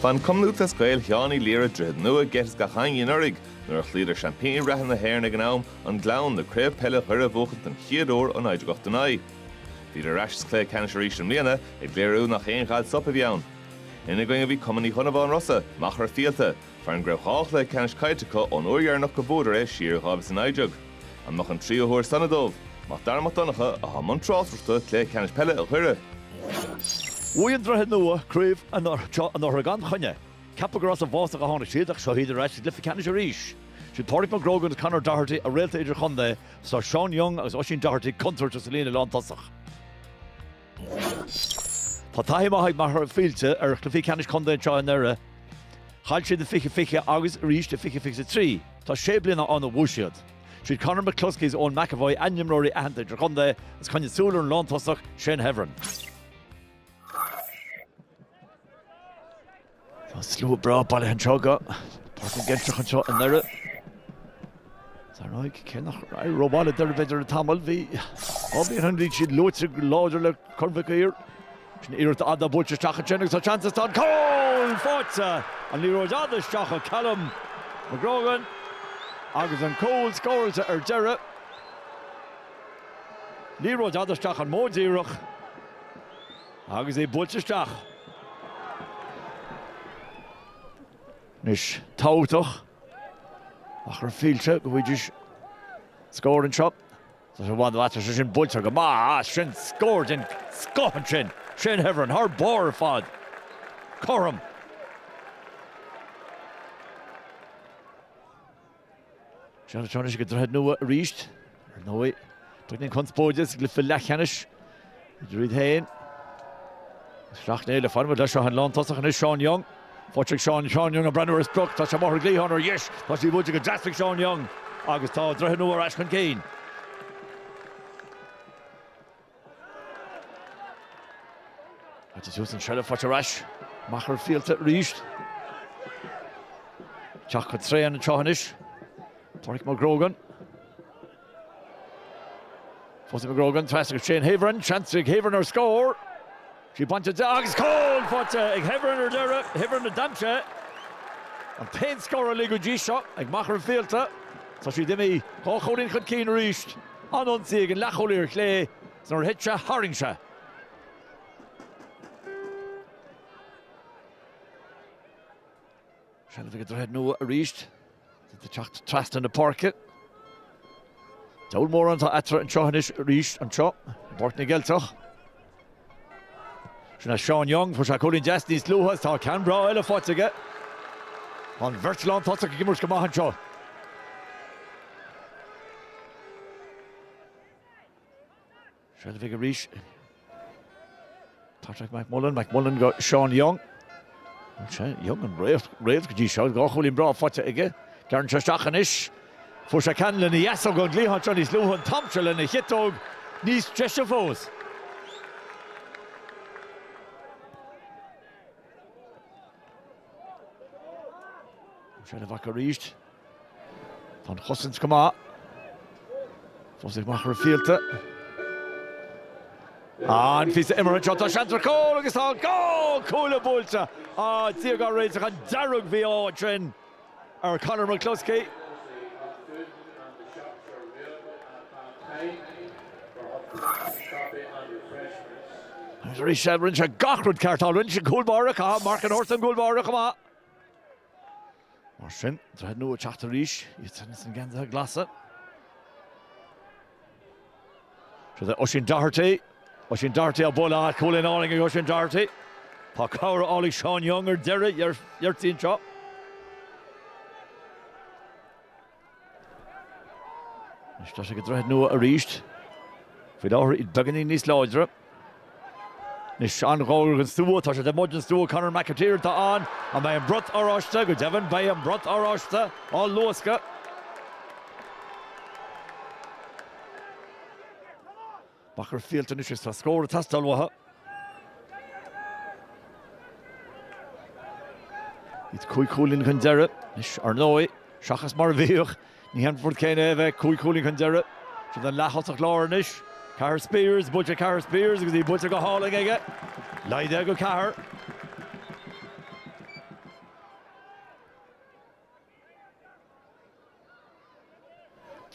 Bhain Cumann Lúthchleas Gael Sheáin Uí Laoire Droichead Nua geit as gach éinne anuraidh nuair a chloíodar seaimpíní reatha na hÉireann ag an am, An Gleann, le Craobh Peile Dhoire a bhuachaint den chéad uair ó 1989. Bhíodar ar ais sa chluiche ceannais arís i mbliana, ag léiriú nach aon ghal soip a bhí ann. Ina gcoinne a bhí Cumann Uí Dhonnabháin Rosa, Machaire Fíolta, foireann go raibh dhá chluiche ceannais caillte acu ón uair dheireanach gur bhuadar é siar i 2019. An mbeadh an tríú huair sona dóibh? Mac Dara Mac Donncha atá i mbun tráchtaireachta cluiche ceannais peile Dhoire. Bhuaigh an Droichead Nua craobh seo anuraidh gan choinne. Ceapadh gur as an bhfásach a tháinig siad ach seo iad ar ais i gcluiche ceannais arís. Sin Pádraig Mac Grógan agus Conor Doherty, a réalta idirchontae, is Sean Young agus Oisín Doherty, contúirteach sa líne lántosach. Tá taithí maith ag Machaire Fíolta ar chluichí ceannais contae anseo i nDoire. Chaill siad i 2020 agus arís i 2023. Tá sé bliana ann ó bhuaigh siad. Siad Conor McCluskey is Eoin McEvoy a n-imreoirí aitheanta idirchontae agus coinnigh súil ar an lántosach Shane Heavron. Tá slua breá bailithe anseo go Páirc na gCeilteach anseo i nDoire. Is ar ndóigh cé nach raibh rómhaith le Doire b'fhéidir le tamall. Bhí dhá bhliain ó shin bhí siad luaite go láidir le Corn Mhic Uidhir. Sin iarracht fhada buailte isteach ansin agus tá seans is tá an cúl faighte. An liathróid fhada isteach ó Callum McGrogan agus an cúl scóráilte ar deireadh. Liathróid fhada isteach an modh díreach. Agus é buailte isteach. Anois tábhachtach do Mhachaire Fíolta go bhfaighidís scór anseo. Tá sé i bhfad amuigh, tá sé sin buailte go maith as sin. Scór den scoth ansin. Shane Heavron thar barr ar fad. Cothrom. Seans anois ag an Droichead Nua arís. Ar ndóigh, beagáinín conspóide sa gcluiche leathcheannais idir iad féin is Sleacht Néill. Fanfaidh muid leis seo an lántosach anois Sean Young. Faighte ag Seán Young ag breathnú ar sprioc. Tá sé amach ar an gcliathán ar dheis. Tá sí buailte go deas ag Seán Young agus tá Droichead Nua ar ais chun cinn. Caitear suas an seilbh, faighte ar ais ag Machaire Fíolta arís. Ag teacht go tréan anseo anois. Pádraic Mac Grogan. Fós Mac Grogan, trasna go Shane Heavron, seans ag Heavron ar scór. Tá sí bainte de agus cúl faighte ag Heavron ar deireadh, Heavron a d'aimsigh an t-aon scór uilig go dtí seo ag Machaire Fíolta. Tá siad imithe dhá chúilín chun cinn arís. An-ionsaí ag an leathchúlaí ar chlé, is nuair a thit sé, tharraing sé. Seilbh ag Droichead Nua arís. Iad ag teacht trasna na páirce. Diabhal mórán atá eatarthu anseo anois arís anseo i bPáirc na gCeilteach. Seo é Seán Young, fuair sé cúilín deas níos luaithe agus tá ceann breá eile faighte aige. Tá an bheirt lántosach ag imirt go maith anseo. Seilbh aige arís. Patrick McMullan, McMullan go Seán Young. Bhuel is é Young an réalt, réalt go dtí seo, dhá chúilín breá faighte aige. Gearrann sé isteach anois. Fuair sé ceann lena dheasóg ón gcliathán seo níos luaithe, an t-am seo lena chiotóg níos deise fós. Seilbh acu arís. Tá an chosaint go maith. Fós ag Machaire Fíolta. An-phíosa imeartha anseo, tá seans ar chúl agus tá an cúl buailte. Á, Dia dhá réiteach an dearg-mhí-ádh ansin ar Conor McCluskey. Agus arís seo, rinne sé gach rud ceart, tharraing sé an cúl báire, caithfidh Mark an Horse an gcúl báire chomh maith. Mar sin, Droichead Nua ag teacht arís, iad sin sna geansaithe glasa. Siúd é Oisín Doherty, Oisín Doherty á bhualadh agus cúilín álainn ag Oisín Doherty. Tá cabhair á fháil ag Seán Young ar deireadh ó Doherty anseo. Anois tá sé ag Droichead Nua arís. Faoi láthair iad beagáinín níos láidre. Anois an-ghar don stua, tá sé taobh amuigh den stua, Conor McAteer atá ann. An mbeidh an brot oráiste? Go deimhin, beidh an brat oráiste á luascadh. Machaire Fíolta anois agus tá scór ag teastáil uathu. Iad cúig chúilín chun deiridh anois, ar ndóigh, seachas mar a bhíodh. Ní hé an rud céanna é a bheith cúig chúilín chun deiridh. Siúd é an leath-thosach láir anois. Cahir Spiers, buailte ag Cahir Spiers agus í buailte go hálainn aige. Laghdaithe go ceathair.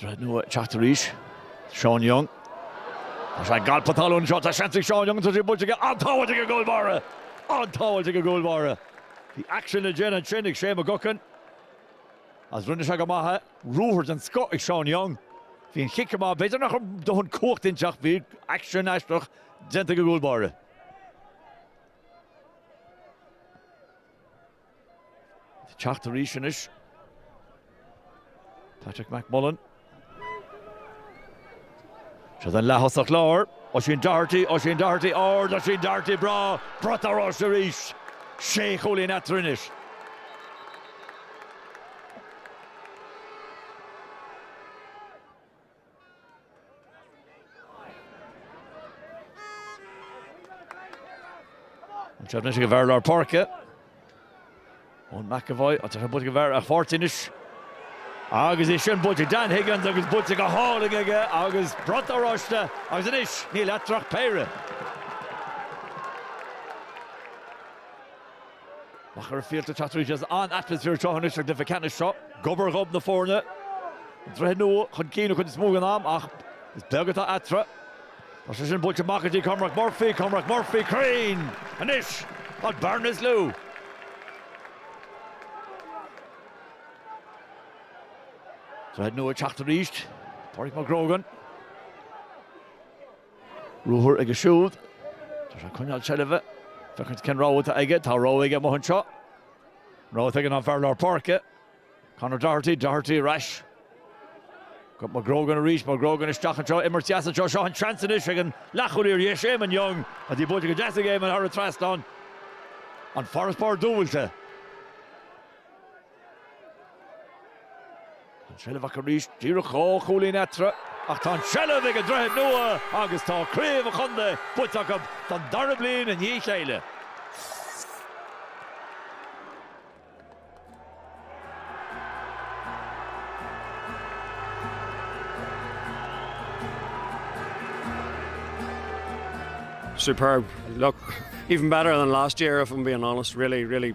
Droichead Nua teacht arís. Sean Young. Tá sé ag alpadh talún seo tá seans ag Sean Young tá sé buailte aige an-tsábháil ag an gcúl báire. An-tsábháil ag an gcúl báire. Bhí aicsean le déanamh ansin ag Shea McGuckin agus rinne sé go maith é. Ruathar den scoth ag Sean Young. Bhí an chic go maith. B'fhéidir nach raibh dóthain cumhachta inti ach bhí aicsean aisteach déanta ag an gcúl báire. Teacht arís anois. Patrick Mac Mullen. Sé an leath-thosach láir. Oisín Doherty, Oisín Doherty, ard, Oisín Doherty, breá, brat in airde arís. Sé chúilín eatarthu anois. Anseo anois ag an bhfear lár páirce. Eoin McEvoy, buailte go dtí an fear lár páirce anois. Agus é sin buailte ag Dan Higgins agus buailte go hálainn aige agus brat oráiste agus anois níl eatarthu ach péire. Machaire Fíolta teacht arís as an atmaisféar seo anois. Doire i gceannas seo, d'obair, gob na foirne an Droichead Nua chun cinn an chuid is mó den am ach is beag atá eatarthu. Tá sé sin buailte amach go dtí Cormac Murphy, Cormac Murphy cruinn anois an bearna is lú. Droichead nua ag teacht arís, Pauric McGrogan. Ruathar aige siúd. Tá sé ag coinneáil seilbhe. Féachaint cén rogha atá aige. Tá rogha aige amuigh anseo. An rogha atá aige ná an fear lár páirce. Conor Doherty. Doherty ar ais. Go McGrogan arís. McGrogan isteach anseo. Imirt dheas anseo. Seo an seans anois ag an leathchúlaí ar dheis, Eamon Young. Agus í buailte go deas ag Eamon thar an trasnán. An farasbarr dúbailte. An tseilbh acu arís, díreach dhá chúilín eatarthu, ach tá an tseilbh ag an Droichead Nua agus tá craobh an chontae buaite acu don dara bliain i ndiaidh a chéile. Superb! Look, even better than last year if I'm being honest, really, really.